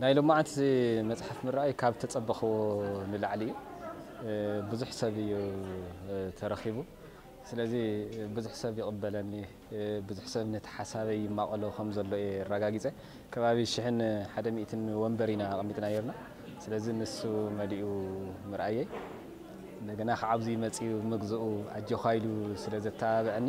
ናይ ሎማዓንቲ መፅሓፍ ምረኣይ ካብ ተፀበኽዎ ንላዕሊ እዩ ብዙሕ ሰብ እዩ ተረኺቡ ስለዚ ብዙሕ ሰብ ይቕበለኒ ብዙሕ ሰብ ነቲ ሓሳበይ ይማቐሎ ከም ዘሎ እየ ኣረጋጊፀ ከባቢ ሽሕን ሓደ ሚእትን ወንበር ኢና ኣቐሚጥና ነርና ስለዚ ንሱ መሊኡ ምርኣየይ እንደገና ከዓብዚ መፅኡ ምግዝኡ ኣጆኻ ኢሉ ስለ ዘተባበዐኒ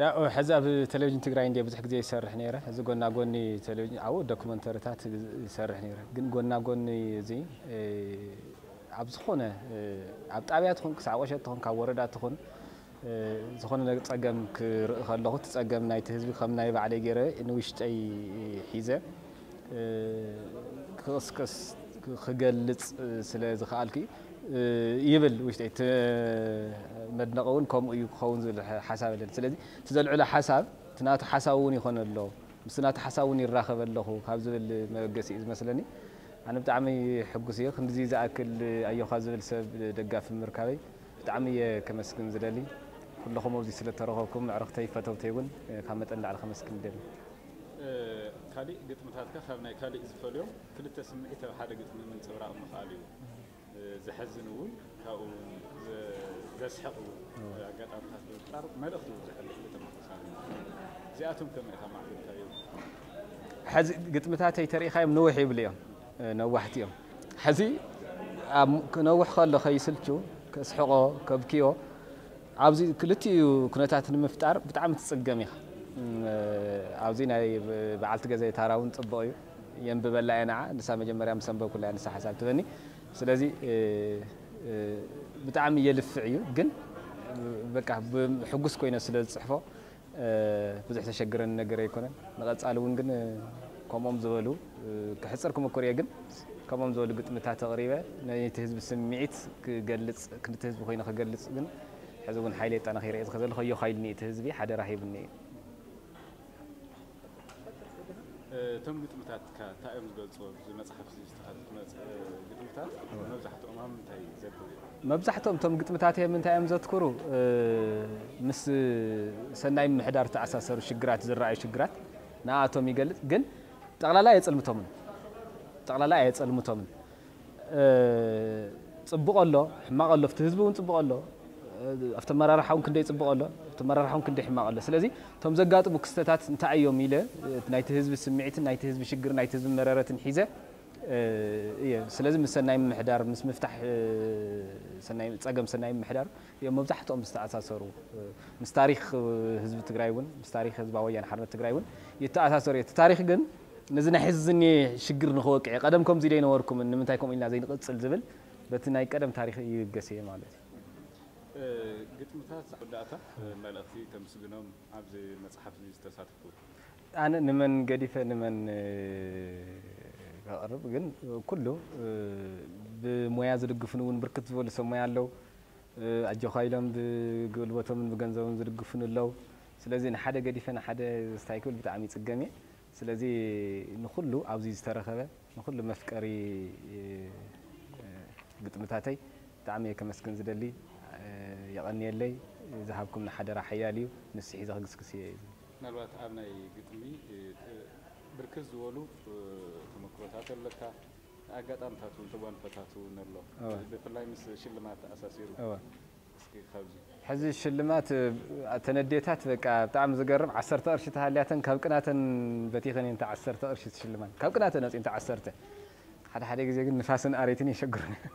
ያኦ ሕዚ ኣብ ተለቪጅን ትግራይ እንድየ ብዙሕ ግዜ ዝሰርሕ ነይረ እዚ ጎና ጎኒ ተለቪጅን ኣብኡ ዶክመንተርታት ይሰርሕ ነይረ ግን ጎና ጎኒ እዚ ኣብ ዝኾነ ኣብ ጣብያ ትኹን ክሳዕ ቆሸት ትኹን ካብ ወረዳ ትኹን ዝኾነ ነግ ጸገም ክርኢ ከለኹ እቲ ጸገም ናይቲ ህዝቢ ከም ናይ ባዕለይ ገይረ ንውሽጠይ ሒዘ ክቕስቅስ ክገልጽ ስለ ዝኸኣልኪ ይብል ውሽጠይ እቲ መድነቒ እውን ከምኡ እዩ ክኸውን ዝብል ሓሳብ ኣለኒ ስለዚ እቲ ዘልዕሎ ሓሳብ እቲ ናቱ ሓሳብ እውን ይኾነ ኣሎ ምስቲ ናቱ ሓሳብ እውን ይራኸበ ኣለኹ ካብ ዝብል መበገሲ እዩ ዝመስለኒ ኣነ ብጣዕሚ ሕጉስ እየ ክንድዚ ዝኣክል ኣዮኻ ዝብል ሰብ ደጋፊ ምርካበይ ብጣዕሚ እየ ከመስግን ዝደሊ ኩለኹም ኣብዚ ስለ ተረኸብኩም ኣዕርኽተይ ፈተውተይ እውን ካብ መጠን ንላዕሊ ከመስግን ይደሊ ካሊእ ግጥምታትካ ካብ ናይ ካሊእ ዝፈልዮም ክልተ ስምዒት ኣብ ሓደ ግጥሚ ምንፅብራቕ ምኽኣል እዩ። ዘሕዝን እውን ካብኡ ዘስሕቕ እውን ኣጋጣምታት ብምፍጣር መልእኽቲ እውን ዘሕልፍ ግጥም ምኽሳብ እዩ። እዚኣቶም ከመይ ኢኻ ማዕቢልካዮም? ሕዚ ግጥምታተይ ተሪኢኻዮም ንውሕ ይብሉ እዮም፣ ነዋሕቲ እዮም። ሕዚ ክነውሕ ከሎ ከይስልቹ፣ ከስሕቖ፣ ከብክዮ፣ ኣብዚ ክልቲኡ ኩነታት ንምፍጣር ብጣዕሚ ትጽገም ኢኻ። ኣብዚ ናይ በዓልቲ ገዛይ ታራ ውን ጽቡቕ እዩ። የንብበላ እየ ንዓ ንሳ መጀመርያ ምስ ኣንበብኩላ እያ ንሳ ሓሳብ ትህበኒ። ስለዚ ብጣዕሚ የልፍዕ እዩ ግን በቃ ሕጉስ ኮይነ ስለ ዝጽሕፎ ብዙሕ ዘሸግረኒ ነገር ኣይኮነን ንቐጻሊ ውን ግን ከምኦም ዝበሉ ክሕጽር ክምኩር እየ ግን ከምኦም ዝበሉ ግጥምታት ኣቕሪበ ናይቲ ህዝቢ ስምዒት ክገልጽ ክልቲ ህዝቢ ኮይነ ክገልጽ ግን ሕዚ ውን ሓይለይ ኣጠናኺረ እየ ዝኸ ዘለኹ ኣዮኻ ኢሉኒ እቲ ህዝቢ ሓደራ ሂቡኒ እዩ። እቶም ግጥምታትካ እንታይ እዮም ዝገልፁ? ኣብዚ መፅሓፍ እዚ ዝተኻተቱ ግጥምታት መብዛሕትኦም ኣብ ምንታይ ዘትኩሩ እዮም? መብዛሕትኦም እቶም ግጥምታተይ ኣብ ምንታይ እዮም ዘትኩሩ? ምስ ሰናይ ምምሕዳር ዝተኣሳሰሩ ሽግራት፣ ዝረኣዩ ሽግራት ንኣኣቶም ይገልፅ። ግን ጠቕላላ ኣየፅልምቶምን። ጠቕላላ ኣየፀልምቶምን። ጽቡቕ ኣሎ ሕማቕ ኣሎ ኣብቲ ህዝቢ ውን ጽቡቕ ኣሎ ኣብቲ ኣመራርሓ ውን ክንደይ ጽቡቕ ኣሎ ኣብቲ ኣመራርሓ ውን ክንደይ ሕማቕ ኣሎ ስለዚ እቶም ዘጋጥሙ ክስተታት እንታይ እዮም ኢለ ናይቲ ህዝቢ ስምዒትን ናይቲ ህዝቢ ሽግርን ናይቲ ህዝቢ መረረትን ሒዘ እየ ስለዚ ምስ ሰናይ ምምሕዳር ምስ ምፍታሕ ሰናይ ጸገም ሰናይ ምምሕዳር እዮም መብዛሕትኦም ዝተኣሳሰሩ ምስ ታሪኽ ህዝቢ ትግራይ ውን ምስ ታሪኽ ህዝባዊ ወያነ ሓርነት ትግራይ ውን ይተኣሳሰሩ እዮም እቲ ታሪኽ ግን ነዚ ናይ ሕዚ ዝኒኤ ሽግር ንክወቅዕ ቀደም ከምዚ ደይነበርኩምን ንምንታይ ከምኡ ኢልና ዘይንቅጽል ዝብል በቲ ናይ ቀደም ታሪክ ይብገስ ኢየ ማለት ኢዩ። ግጥምታት መወዳእታ መልእኽቲ ተምስግኖም ኣብዚ መጽሓፍ እዚ ዝተሳተፉ። ኣነ ንመን ገዲፈ ንመን ከቕርብ ግን ኩሉ ብሞያ ዝድግፉኒ እውን ብርክት ዝበሉ ሰብ ሞያ ኣለው ኣጆኻ ኢሎም ብግልቦቶምን ብገንዘቦምን ዝድግፉኒ ኣለው ስለዚ ንሓደ ገዲፈ ንሓደ ስታይ ክብል ብጣዕሚ ይጽገም ኢየ። ስለዚ ንኹሉ ኣብዚ ዝተረኸበ ንኹሉ መፍቀሪ ግጥምታተይ ብጣዕሚ እየ ከመስግን ዝደሊ የቐንየለይ ዝሃብኩምኒ ሓደራ ሓያል እዩ ንሱ ሒዘ ክግስግስ እየ እዚ ምናልባት ኣብ ናይ ግጥሚ ብርክት ዝበሉ ተመክሮታት ኣለካ ኣጋጣምታት እውን ተጓንፎታት እውን ኣሎ ብፍላይ ምስ ሽልማት ተኣሳሲሩ ሕዚ ሽልማት ኣተን ኣዴታት በቃ ብጣዕሚ ዝገርም ዓሰርተ ቅርሺ ተሃልያተን ካብ ቅናተን በቲኸን እየን እታ ዓሰርተ ቅርሺ ዝሽልማን ካብ ቅናተን ኣውፂእን እታ ዓሰርተ ሓደ ሓደ ግዜ ግን ንፋስን ኣሬትን የሸግሩን እዮም።